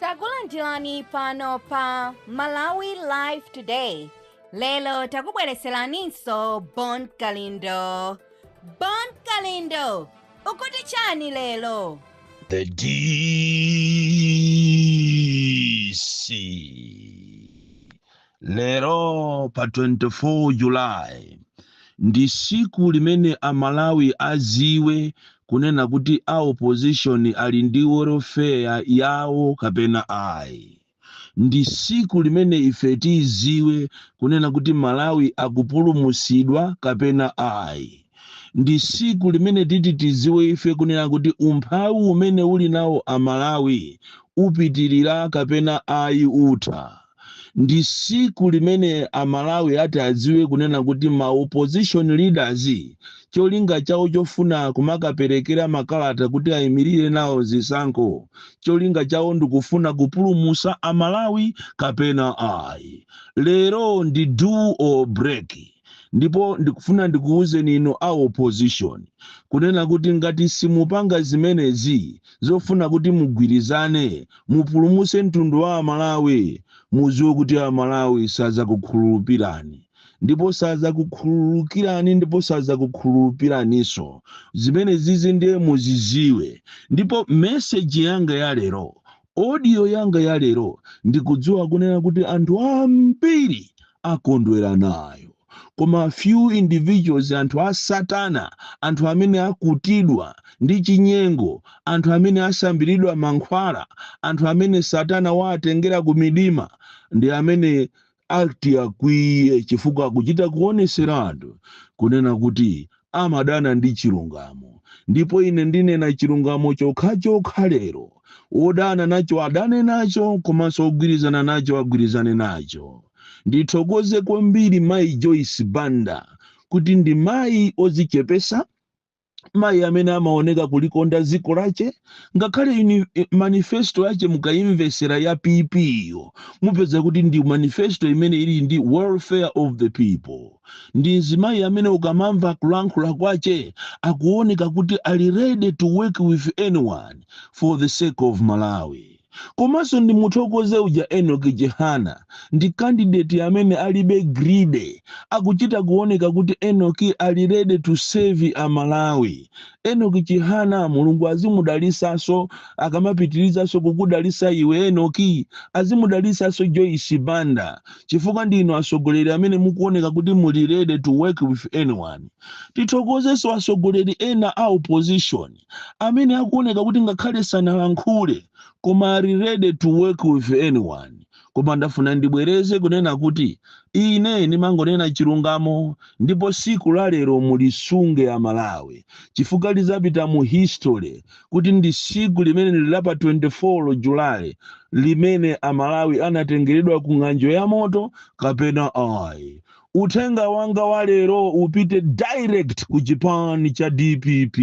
takulandirani pano pa malawi live today lero takubwereseraninso bon kalindo bon kalindo ukuti chani lero The DC. Lero pa 24 July ndi siku limene a Malawi aziwe kunena kuti a opposition ali ndi welfare yawo kapena ayi. Ndi siku limene ife tiziwe kunena kuti Malawi akupulumusidwa kapena ayi. Ndi siku limene titi tiziwe ife kunena kuti umphawi umene ali nawo a Malawi upitilira kapena ayi utha. ndi siku limene amalawi ati adziwe kunena kuti ma opposition leaders cholinga chawo chofuna kumakaperekera makalata kuti ayimirire nawo zisankho cholinga chawo ndikufuna kupulumusa amalawi kapena ayi lero ndi do or break ndipo ndikufuna ndikuwuzeni inu a opposition kunena kuti ngati simupanga zimenezi zofuna kuti mugwirizane mupulumuse mtundu wa amalawi muziwe kuti amalawi sazakukhululupirani ndipo sazakukhululukirani ndipo sazakukhululupiraninso zimenezizi ndiye muziziwe ndipo meseji yanga ya lero Audio yanga ya lero ndikudziwa kunena kuti anthu ambiri akondwera nayo. Koma few individuals, anthu a satana, anthu amene akutidwa ndi chinyengo, anthu amene asambiridwa mankhwala, anthu amene satana waatengera kumidima ndi amene Ati akwiye chifukwa akuchita kuoneseratu kunena kuti amadana ndi chilungamo ndipo ine ndinena chilungamo chokhachokha lero wodana nacho adane nacho komanso wogwirizana nacho agwirizane nacho. Ndithokoze kwambiri mayi Joyce Banda kuti ndi mayi odzichepesa, mayi amene amaoneka kulikonda dziko lache ngakhale uni- eh, manifesto yache mukayimvesera ya pp iyo mupeza kuti ndi manifesto imene ili ndi welfare of the people ndi mzimayi amene ukamamva kulankhula kwache akuoneka kuti ali ready to work with anyone for the sake of malawi Komanso ndimuthokoze uja Enock Chihana ndi candidate amene alibe greedy akuchita kuoneka kuti Enock ali ready to save a Malawi. Enock Chihana Mulungu azimudalisaso akamapitilizaso kukudalisa iwe Enock azimudalisaso Joyce Banda chifukwa ndi inu asogoleri amene mukuoneka kuti muli ready to work with anyone. Tithokozeso asogoleri ena a opposition. amene akuoneka kuti ngakhale sanalankhule koma ali ready to work with anyone koma ndafuna ndibwereze kunena kuti ine ndimangonena chilungamo ndipo siku la lero mulisunge amalawi chifukwa lizapita mu history kuti ndi siku limene lili pa 24 julayi limene amalawi anatengeredwa ku ng'anjo ya moto kapena ayi Uthenga wanga wa lero upite direct ku chipani cha dpp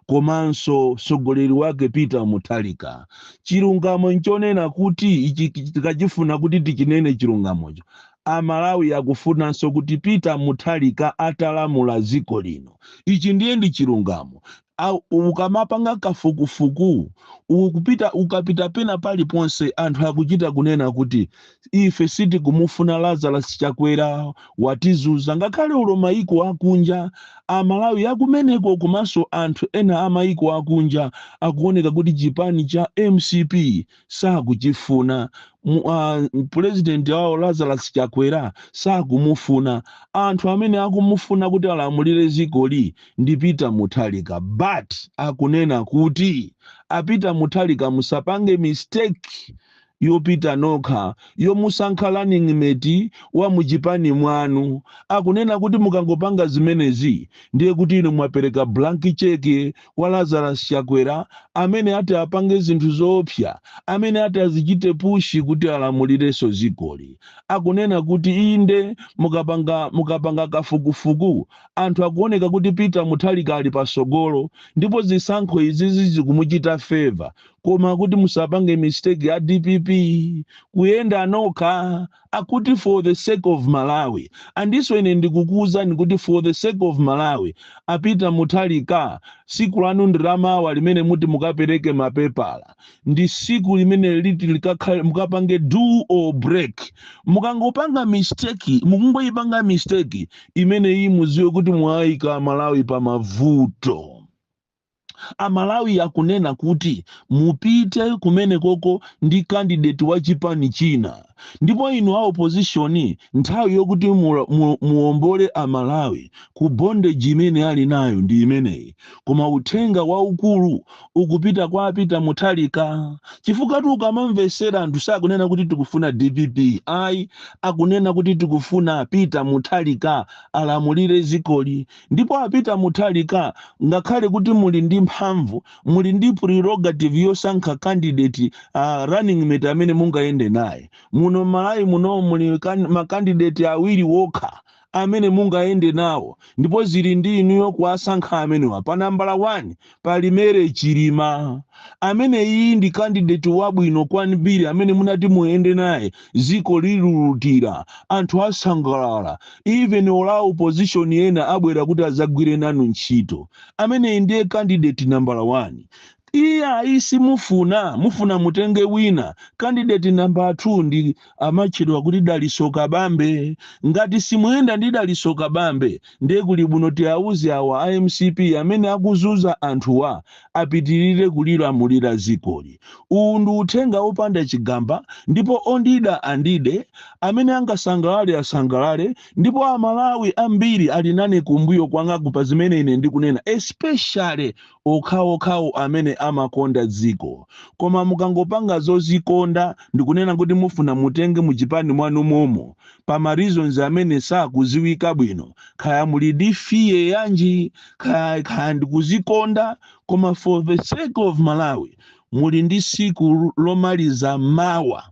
komanso mtsogoleri wake Peter Mutharika. Chilungamo nchonena kuti ichi tikachifuna kuti tichinene chilungamocho, a Malawi akufunanso kuti Peter Mutharika atalamula dziko lino. Ichi ndiye ndi chilungamo. a, ukamapanga kafukufuku, ukupita, ukapita pena paliponse, anthu akuchita kunena kuti, Ife sitikumufuna Lazarus Chakwera, watizuza. Ngakhale olo maiko akunja, a Malawi akumeneko komanso anthu ena a maiko akunja akuoneka kuti chipani cha mcp sakuchifuna Mu- ah, pulezidenti wawo lazarus chakwera sakumufuna anthu amene akumufuna kuti alamulire dzikoli ndi peter mutharika but akunena kuti a peter mutharika musapange mistake yopita nokha yomusankha running mate wa muchipani mwanu akunena kuti mukangopanga zimenezi ndiye kuti inu mwapereka blank cheque kwa Lazarus Chakwera amene ati apange zinthu zoopsa amene ati azichite push kuti alamulirenso dzikoli. Akunena kuti inde mukapanga mukapanga kafukufuku anthu akuoneka kuti Peter Mutharika ali patsogolo ndipo zisankho izizi zikumuchita favour koma akuti musapange mistake a dpp kuyenda nokha akuti for the sake of malawi and so ine ndikukuuzani kuti for the sake of malawi a peter mutharika siku lanu ndi lamawa limene muti mukapereke mapepala ndi siku limene liti likakhale mukapange do or break mukangopanga mistake mukangoyipanga mistake imeneyi muziwe kuti mwayika malawi pa mavuto amalawi akunena kuti mupite kumenekoko ndi candidate wa chipani china ndipo inu a opposition nthawi yokuti mula- mu- muombole amalawi ku bondage imene ali nayo ndi imeneyi koma uthenga waukulu ukupita kwa a peter mutharika chifukwatu ukamamvetsera anthu sakunena kuti tikufuna dpp ayi akunena kuti tikufuna a peter mutharika alamulire dzikoli Ndipo a Peter Mutharika ngakhale kuti muli ndi mphamvu, muli ndi prerogative yosankha candidate running mate amene mungayende naye. Muno m'Malawi muno muli kan ma candidate awiri okha amene mungayende nawo ndipo zili ndi inuyo kuwasankha amenewa. Pa nambala 1 pali mere chilima amene uyu ndi kandideti wabwino kwambiri amene munati muyende naye ziko lilulutira anthu asangalala even a opposition ena abwera kuti azagwire nanu ntchito ameneyi ndiye kandideti nambala 1 iye ayi simufuna mufuna mutenge wina kandideti nambala 2 ndi amatchedwa kuti Dalitso Kabambe. Ngati simuyenda ndi Dalitso Kabambe ndiye kuli bwino tiauze awa a mcp amene akuzunza anthuwa apitirire kulilamulira dzikoli. Uwu ndi uthenga opanda chigamba ndipo ondida andide, amene angasangalale asangalale ndipo a Malawi ambiri ali nane kumbuyo kwangaku pa zimene ine ndikunena especially okhaokhawo amene amakonda dziko koma mukangopanga zozikonda ndikunena kuti mufuna mutenge mu chipani mwanu momo pa ma reasons amene sakuziwika bwino kaya muli ndi fear yanji kaya kaya ndikuzikonda koma for the sake of malawi muli ndi siku lomaliza mawa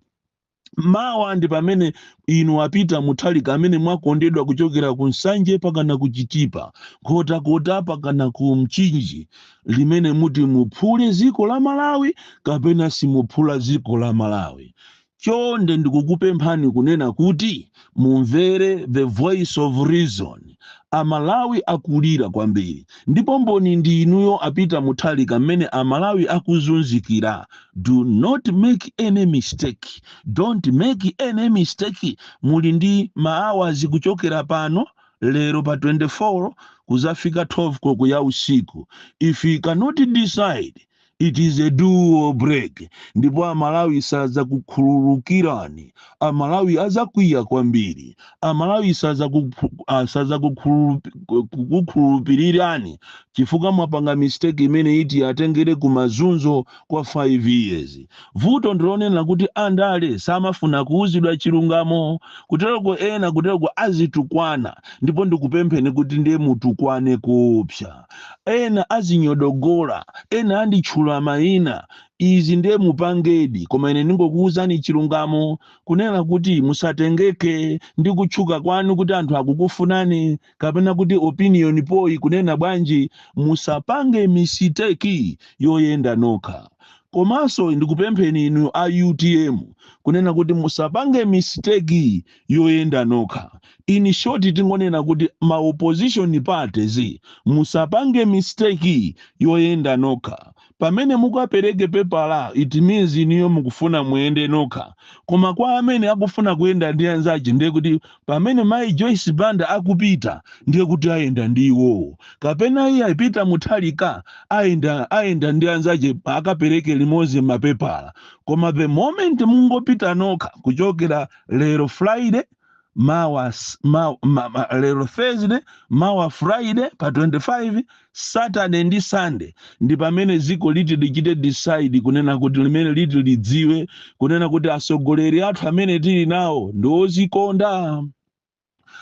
mawa ndi pamene inu a Peter Mutharika amene mwakondedwa kuchokera ku nsanje pakana ku chitipa nkhotakota pakana ku mchinji limene muti muphule dziko la malawi kapena simuphula dziko la malawi chonde ndikukupemphani kunena kuti mumvere the voice of reason amalawi akulira kwambiri ndipo mboni ndi inuyo a Peter Mutharika mmene amalawi akuzunzikira do not make any mistake don't make any mistake muli ndi maawazi kuchokera pano lero pa 24 kuzafika 12 koloko ya usiku if you cannot decide it is a do or break ndipo amalawi sadzakukhululukirani amalawi adzakwiya kwambiri amalawi sadzakuphu- ah, sadzakukhulupirirani chifukwa mwapanga mistake imene iti atengere ku mazunzo kwa 5 years vuto ndilonena kuti andale samafuna kuuzidwa chilungamo kutereko ena kutereko azitukwana ndipo ndikupempheni kuti ndiye mutukwane kupsa ena azinyodogola, ena anditchula maina, izi ndiye mupangedi koma ine ndingokuuzani chilungamo kunena kuti musatengeke ndi kutchuka kwanu kuti anthu akukufunani kapena kuti opinion poll ikunena bwanji, musapange misiteki yoyenda nokha. Komanso ndikupempheni inu a utm kunena kuti musapange misiteki yoyenda nokha. In short tingonena kuti ma opposition parties musapange mistake yoyenda nokha. Pamene mukapereke pepala it means inuyo mukufuna muyende nokha koma kwa amene akufuna kuyenda ndi anzache ndiye kuti pamene Mayi Joyce Banda akapita ndiye kuti ayenda ndi iwowo kapena iyayi a Peter Mutharika ayenda ndi anzache akapereke limodzi mapepala koma the moment mungopita nokha kuchokera lero friday ma, lero thursday mawa friday pa 25 saturday ndi sunday ndi pamene ziko liti lichite decide kunena kuti limene liti lidziwe kunena kuti asogoleri athu amene tili nawo ndi ozikonda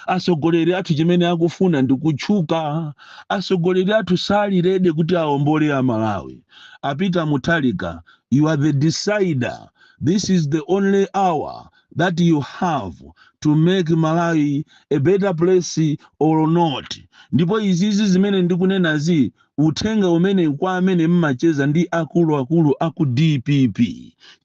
asogoleri athu chimene akufuna ndi kutchuka asogoleri athu sali ready kuti aombole amalawi a peter mutharika you are the decider this is the only hour that you have to make malawi a better place or not ndipo izizi zimene ndikunenazi uthenga umenewu kwa amene mmacheza ndi akulu akulu aku dpp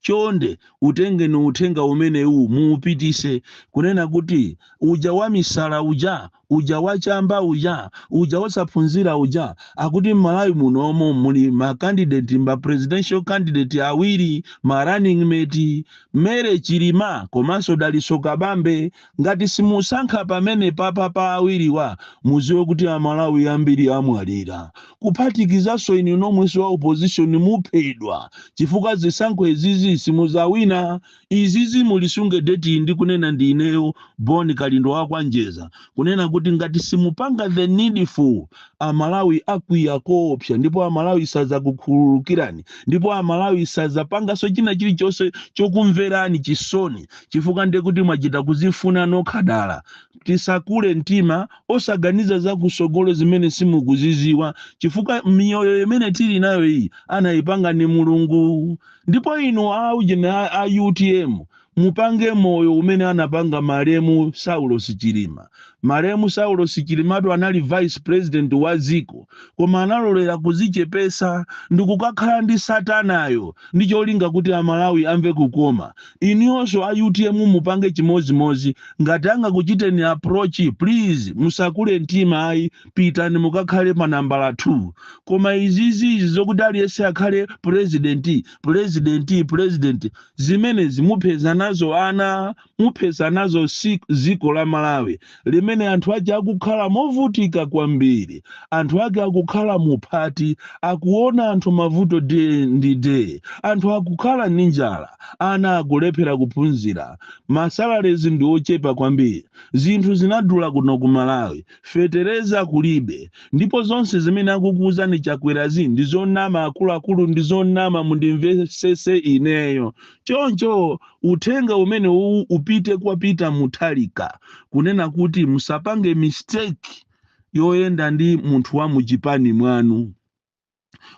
chonde utengeni uthenga umenewu muupitise kunena kuti uja wamisala uja uja wachamba uja uja wosaphunzira uja akuti mmalawi munomo muli ma candidate ma presidential candidate awiri ma running mate mary chilima komanso dalitso kabambe Ngati simusankha pamenepapa pa awiriwa muziwe kuti a Malawi ambiri amwalira kuphatikizanso inu nomwenso a opposition muphedwa chifukwa zisankho izizi simuzawina izizi mulisunge date iyi ndikunena ndi ineyo Bon Kalindo wa kwa Njeza kunena kuti ngati simupanga the needful a Malawi akwiya koopsa ndipo a Malawi sazakukhululukirani ndipo a Malawi sazapangaso china chilichonse chokumverani chisoni chifukwa ndiye kuti mwachita kuzifuna nokha dala. Musakule mtima osaganiza za kusogolo zimene simukuziziwa chifukwa miyoyo imene tili nayo iyi anayipanga ni Mulungu. Ndipo inu a ujeni a, a UTM mupange moyo umene anapanga malemu Saulos Chilima. Malemu Saulosi Chilimatu anali vice president wa ziko koma analolera kuzichepesa ndikukakhala ndi satanayo ndi cholinga kuti a Malawi amve kukoma. Inuyonso a utm mupange chimozimozi ngati angakuchiteni approach please musakule mtima ayi pitani mukakhale pa nambala 2. Koma izizizi zokuti aliyense akhale president president president zimenezi muphetsa nazo ana. muphetsa nazo dziko la Malawi limene anthu ake akukhala movutika kwambiri, anthu ake akukhala mu phati, akuona anthu mavuto day ndi day, anthu akukhala ndi njala, ana akulephera kuphunzira, ma salaries ndi ochepa kwambiri, zinthu zinadula kuno ku Malawi, fetereza kulibe, ndipo zonse zimene akukuuzani Chakwerazi ndi zonama, akuluakulu ndi zonama, mundimvetsetse ineyo. Choncho uthenga umenewuwu upite kwa Peter Mutharika kunena kuti musapange mistake yoyenda ndi munthu wa muchipani mwanu.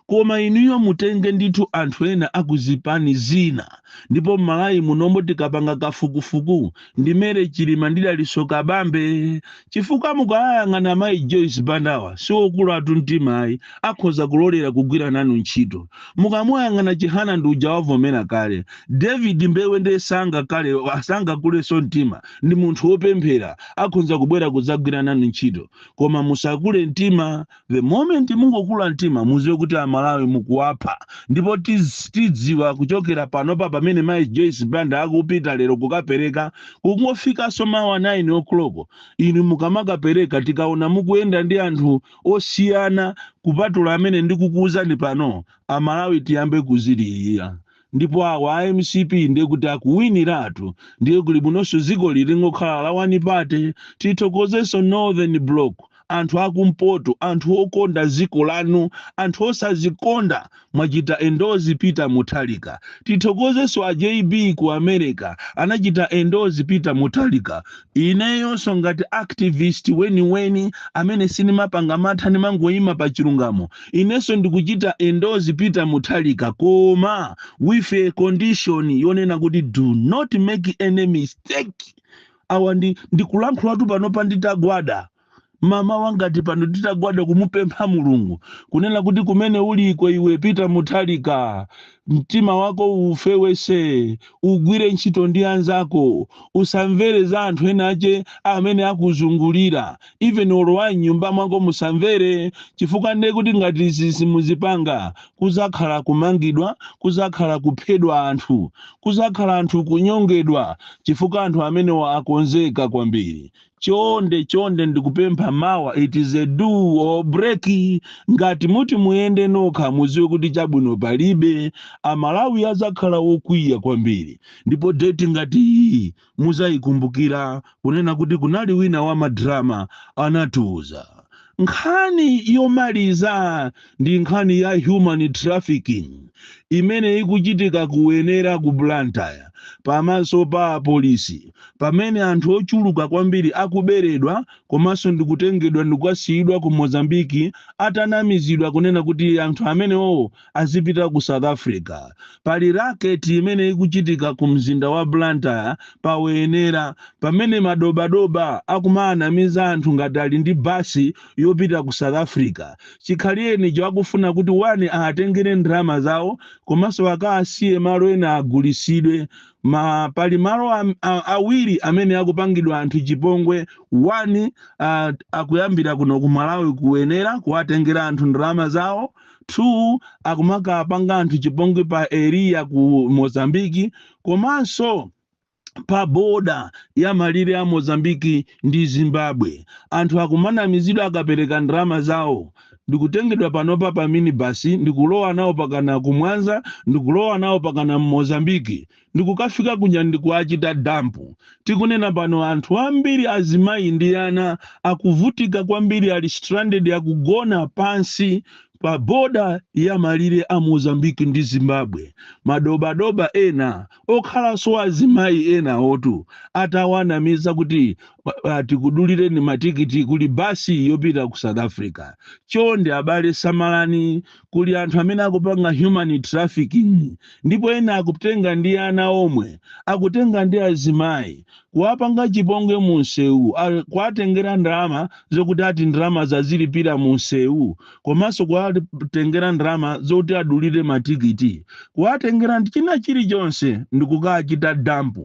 Koma inuyo mutenge ndithu anthu ena akuzipani zina ndipo m'Malawi munomo tikapanga kafukufuku ndi mary chilima ndi dalitso kabambe chifukwa mukayang'ana mayi joyce bandawa siwokulatu mtima ayi akhoza kulolera kugwira nanu ntchito mukamuyang'ana chihana ndi uja wavomera kale david mbewe ndiye sangakale sangakulenso mtima ndi munthu wopemphera akhonza kubwera kudzagwira nanu ntchito koma musakule mtima The moment mungokula mtima muziwe kuti amalawi mukuwapha ndipo tiz, tidziwa kuchokera panopa pamene mai Joyce Banda akupita lero kukapereka kungofikanso mawa 9 o'clock inu mukamakapereka tikaona mukuyenda ndi anthu osiyana kupatula amene ndikukuuzani pano amalawi tiyambe kuzililira ndipo awa a mcp ndiye kuti akuwiniratu ndiye kuli bwinonso dzikoli lingokhala la one party tithokozenso northern block anthu akumpoto anthu okonda dziko lanu anthu osazikonda mwachita endorse peter mutharika tithokozenso a jb ku america anachita endorse peter mutharika ineyonso ngati activist weniweni amene sindimapanga mantha ndimangoyima pa chilungamo inenso ndikuchita endorse peter mutharika koma with a condition yonena kuti do not make any mistake awa ndi ndikulankhulatu panopa nditagwada mamawa ngati pano nditagwada kumupempha mulungu kunena kuti kumene uliko iwe peter mutharika mtima wako ufewese ugwire ntchito ndi anzako usamvere za anthu ena ache amene akuzungulira even olo wa mnyumba mwako musamvere chifukwa nde kuti ngati izi simuzipanga kuzakhala kumangidwa kuzakhala kuphedwa anthu kuzakhala anthu kunyongedwa chifukwa anthu amenewa akonzeka kwambiri chonde chonde ndikupempha mawa it is a do or break ngati muti muyende nokha muziwe kuti chabwino palibe amalawi azakhala okwiya kwambiri ndipo date ngati iyi muzayikumbukira kunena kuti kunali wina wa madrama anatiuza nkhani yomaliza ndi nkhani ya human trafficking imene ikuchitika ku wenera ku blantyre pamaso pa apolisi pamene anthu ochuluka kwambiri akuberedwa komanso ndikutengedwa ndikukasiyidwa ku mozambiki atanamizidwa kunena kuti anthu amenewowo azipita ku south africa pali racket imene ikuchitika ku mzinda wa blantyre pa wenera pamene madobadoba akumaanamiza anthu ngati ali ndi basi yopita ku south africa chikhalirenicho akufuna kuti wani aatengere ndalama zawo komanso akaasiye malo ena agulisidwe ma pali malo am- a- awiri amene akupangidwa anthu chipongwe wani uh, akuyambira kuno ku malawi ku wenera kuwatengera anthu ndalama zawo 2 akumakapanga anthu chipongwe pa area ku mozambiki komanso pa boda ya malire a mozambiki ndi zimbabwe anthu akumanamizidwa akapereka ndalama zawo ndikutengedwa panopa pa minibasi ndikulowa nawo pakana ku mwanza ndikulowa nawo pakana mmozambiki ndikukafika kuja ndikuachita dump. Tikunena pano anthu ambiri azimayi ndi ana akuvutika kwambiri ali stranded akugona pansi pa border ya malire a Mozambique ndi Zimbabwe. Madobadoba ena okhalanso azimayi enawotu atawanamiza kuti uh, tikudulireni matikiti kuli basi yopita ku South Africa. Chonde abale samalani kuli anthu amene akupanga human trafficking ndipo ena akutenga ndi ana omwe akutenga ndi azimayi kuwapanga chipongwe mu msewu a- kuwatengera ndalama zokuti ati ndalama zazilipira mu msewu komanso kuwatengera ndalama zokuti adulire matikiti kuwatengera ndi china chilichonse ndikukachita dump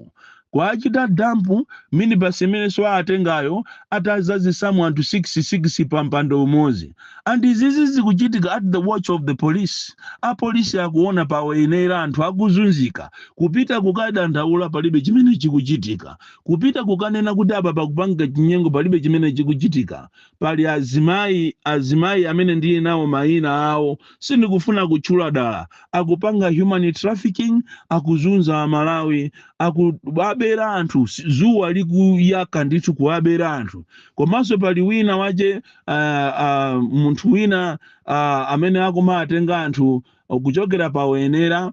kuwachita dump minibus imenenso awatengayo atazazisamu anthu 6 6 pa mpando umodzi and izizi zikuchitika at the watch of the police apolisi akuona pa wenera anthu akuzunzika kupita kukadandaula palibe chimene chikuchitika kupita kukanena kuti apa pakupangika chinyengo palibe chimene chikuchitika Pali azimayi, azimayi amene ndili nawo mayina awo, sindikufuna kutchula dala, akupanga human trafficking, akuzunza Amalawi, akuwabera anthu dzuwa likuyaka ndithu kuwabera anthu. Komanso pali wina wache uh, uh, munthu wina uh, amene akumatenga anthu kuchokera pa Wenera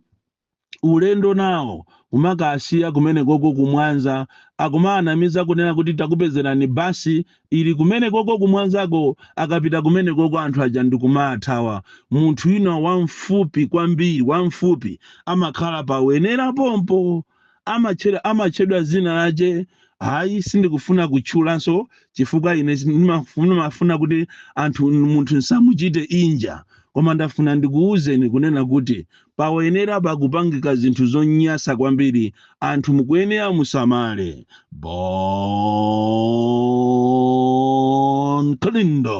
ulendo nawo kumakasiya kumenekoko ku mwanza akumawanamiza kunena kuti takupezerani bus ili kumenekoko ku mwanzako akapita kumenekoko anthu aja ndikumaathawa munthu wina wamfupi kwambiri wamfupi amakhala pa wenela pompo amatchedwa dzina lache, ayi sindikufuna kutchulanso chifukwa ine ndimafuna kuti anthu munthu nsamuchite injure koma ndafuna ndikuwuzeni kunena kuti pa Wenela pakupangika zinthu zonyasa kwambiri anthu mukuyenera musamale. Bon Kalindo.